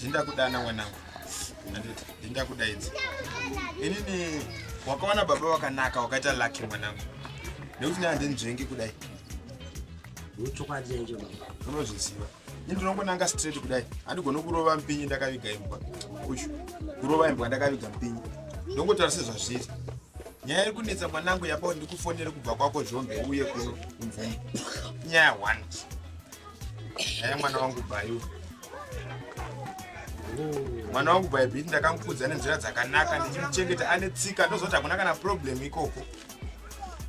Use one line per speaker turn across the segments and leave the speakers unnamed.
ndakudana mwanangu ndindakudaidzi inini wakawana baba wakanaka wakaita laki mwanangu nekuti ne handinzvengi kudai
unozviziva
ini ndinongonanga straight kudai handigoni kurova mpinyi ndakaviga imbwa uyu kurova imbwa ndakaviga mpinyi ndongotaura sezvazviri nyaya iri kunetsa mwanangu yabao ndikufonere kubva kwako zvombe uye kuno kumvuma nyaya one nyaya mwana wangu bayu mwana wangu baibiti ndakamukudza nenzira dzakanaka ndichimuchengeta ane tsika ndozoti hakuna kana problem ikoko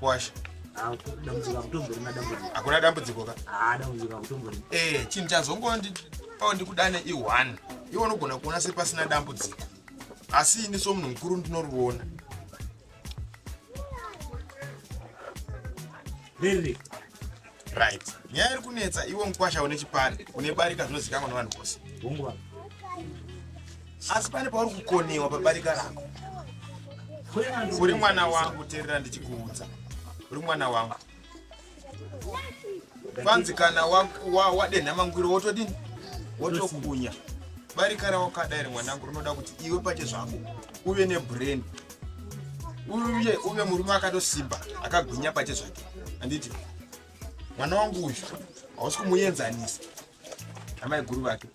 washa hakuna dambudziko ka
eh, chinhu chazongondi
pao ndikudane i1 iwe unogona kuona sepasina dambudziko asi ini somunhu mukuru ndinoriona
Really? Right.
Nyaya iri kunetsa iwe mkwasha une chipani une barika zvinozikanwa nevanhu vose.
Hungwa.
Asi pane pauri kukonewa pabarika rako. Uri mwana wangu terera ndichikuudza. Uri mwana wangu. Kwanzi kana wadenha wa, wa mangwiro wotodini? Wotokunya. Barika rawakada iri mwanangu rinoda kuti iwe pache zvako uve nebrain uye uve murume akatosimba akagwinya pache zvake anditi mwana wangu uyu hausi kumuenzanisa amai guru vake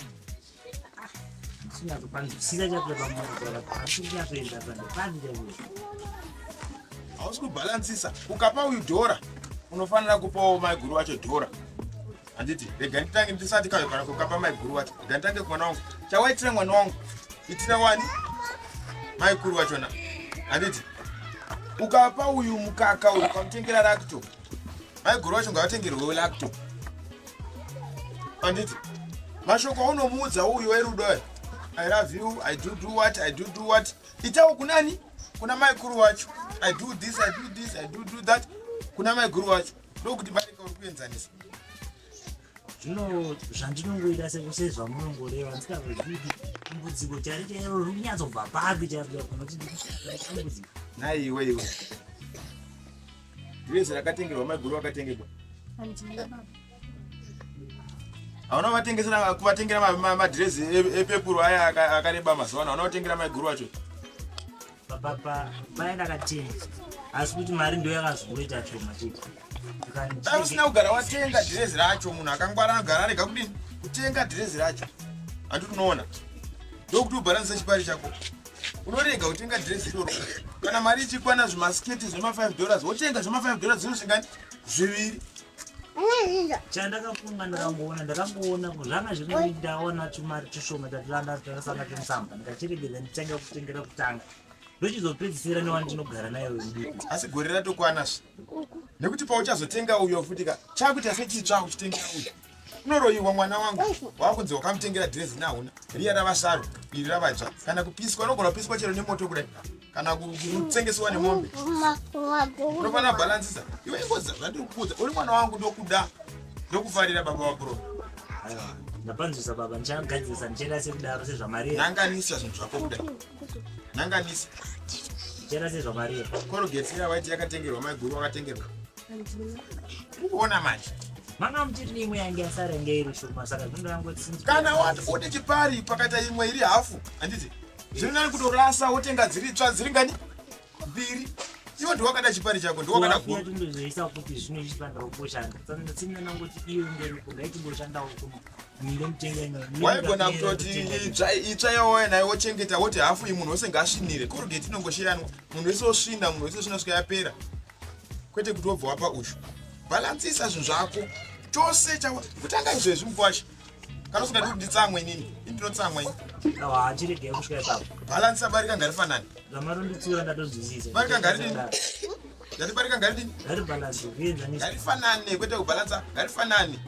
hausi kubhalansisa ukapa uyu dhora unofanira kupawo maiguru wacho dhora handiti rega nditange ndisati kayo kana kukapa maiguru wacho rega nditange kumwana wangu chawaitira mwana wangu itira wani maikuru wachona handiti ukapa uyu mukaka uyu ukamutengera lacto maiguru wacho ngavatengerwewo lacto handiti mashoko aunomuudza uyu werudo ayo I love you, I do do what, I do do what. Itawo kunani? Kuna mai kuru wacho. I do this, I do this, I do do that. Kuna mai kuru wacho. ndokuti barika uri kuenzanisa zvino
zvandinongoita sezvamunongoreva ndisikazozivi dambudziko chari chairo riri kunyatsobva papi chaidambudziko naiwe iwe
rese rakatengerwa maiguru vakatengerwa hauna vatengesera kuvatengera madhirezi e, e, epepuru aya akareba mazuva ano hauna vatengera maiguru wacho
Papa mai ndakatenga asi kuti mari ndo yakazongoita shoma chete. Dai usina
kugara watenga dhirezi racho munhu akangwara anogara arega kudini kutenga dhirezi racho handi unoona ndokuti ubharanisa chipari chako unorega kutenga dhirezi iroro kana mari ichikwana zvimasketi zvema 5 dollars wotenga zvema 5 dollars zvinosvingani zviviri chandakafunga
ndakangoona ndakangoona ko zvanga zviri ndaona tumari tushoma tatiranda takasanga tumusamba ndikachiregedza nditanga kutengera kutanga ndochizopedzisira newani tinogara naye uyu asi gore ratokwana
zve nekuti pauchazotenga uyo futi ka chakuita sechitsva uchitengera uyo unoroyiwa mwana wangu wakunzi wakamutengera dhirezi nahuna riya ravasaro iri ravaja kana kupiswa unogona kupiswa chero nemoto kudai kana kutengesewa nemombe unofanira bhalansisa iwe ingozi zvandiri kukuudza uri mwana wangu ndokuda ndokufarira baba vabro
ndapanzwisa baba ndichagadzirisa ndichaita sekudaro sezvamari nanganisa zvinhu zvako
kuda nanganisa
ndichaita sezvamari korogeti iya waiti
yakatengerwa maiguru wakatengerwa ukuona manje manga muchiti neimwe
yange yasara inge iri shoma saka zvinoda yangoti kana wati une
chipari pakaita imwe iri hafu handiti Zviri nani kutorasa wotenga dziri tsva dziri ngani? Mbiri. Iwe ndiwe wakada chipari chako, ndiwe wakada guru. Ndozoisa
kuti zvino izvi panda kuboshanda. Tsana tsina nangu kuti iwe ngeri kunda iti boshanda hukumu.
waigona kutoti itsva yawauya nayo wochengeta woti hafu iyi munhu wese ngaasvinire korogeti inongoshiranwa munhu wese osvina munhu wese osvina svika yapera kwete kuti wobva wapa ushu bhalansisa zvinhu zvako chose kutanga izvezvi mukwasha kana usingadi kuti nditsamwe inini indinotsamwa ini achiregei kusvika
ipapo bhalansi abarika ngari
fanani zvamaronditsura
ndatozvisiisa barika ngari dini
ndati barika ngari dini ngari bhalansi zvienzanisa
ngari fanani kwete
kubhalansa ngari fanani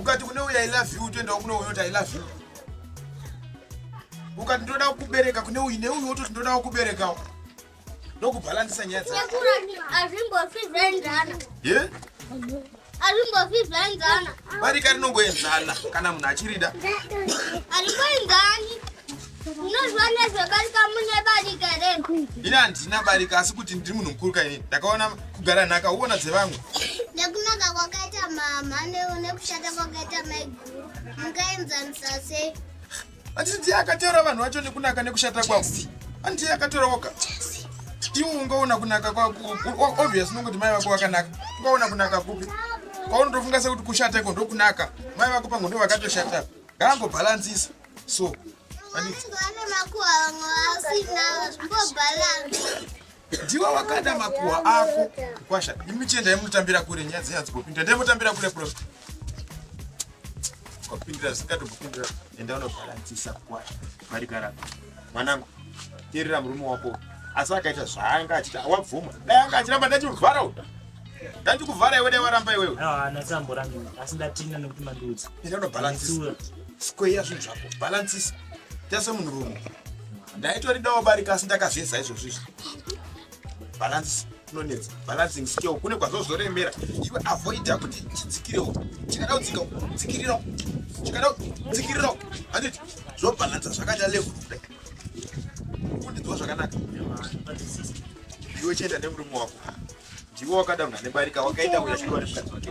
ukati kune uya i love you utoendawo kune uyo kuti i love you ukati ndoda kukubereka kune uyu neuyu wototi ndoda kukuberekawo ndokubhalansisa nyaya
dzazvimbofizaenzana barika rinongoenzana
kana munhu achirida
arimboenzani unoziva nezvebarika mune barika here ini handina barika
asi kuti ndiri munhu mukuru kaini ndakaona kugara nhaka uona dzevamwe nekunaka
kwakaita mama nekushata kwakaita maiguru mungaenzanisa sei Anditi
ndiye akateura vanhu vacho nekunaka nekushata kwavo. Anditi akateura woga. Iwe ungaona kunaka kwako obvious nongokuti mai vako vakanaka. Ungaona kunaka kupi? Kwaunotofunga sekuti kushata iko ndokunaka. Mai vako pangu ndo vakatoshata. Gango balancisa. So. Anditi. Vana vako
vanga vasina. Mbo balance. ndiwe
wakada makuhwa ako kwasha imi chii ndaimutambira kure nyaya dzenyanzi kupindira ndaimutambira kure prof kupindira zikatokupindira enda unobhalansisa kwasha marigara mwanangu terera murume wako asi akaita zvaanga achita wabvuma dai anga achiramba ndachimuvhara u ndachikuvhara iwe dai waramba iwewe nasamboranga
asi ndatina nekuti mandiudza enda unobhalansisa
square zvinhu zvako bhalansisa tasemunhurume ndaitoridawo barika asi ndakazeza izvozvo izvi balance kunonetsa balancing skill kune kwazvozoremera iwe avoida kuti chidzikirewo chikada kudzika dzikirirawo chikada kudzikirirawo handiti zvobalansa zvakaita level kudai kundidziwa zvakanaka iwe chienda nemurume wako ndiwe wakada munhu anebarika wakaita uya zviwa nemukadzi wake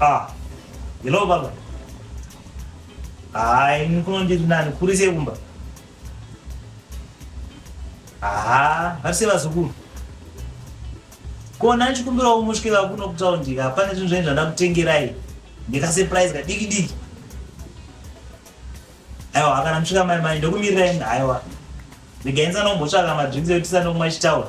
Ah, hello baba. Hayi, nikuno ndiri nani, kuri sei kumba? Haa, vari sei vazukuru? Kona ndichikumbirawo musvike vakuno kutaundi ka, pane zvinhu zvenyu zvandada kutengerai. Ndikasurprise kadiki diki. Aiwa, kana musvika mai mai ndokumirirai aiwa. Regai ndisanombosvaka madrinks ekuti tisanokumwa chitaura.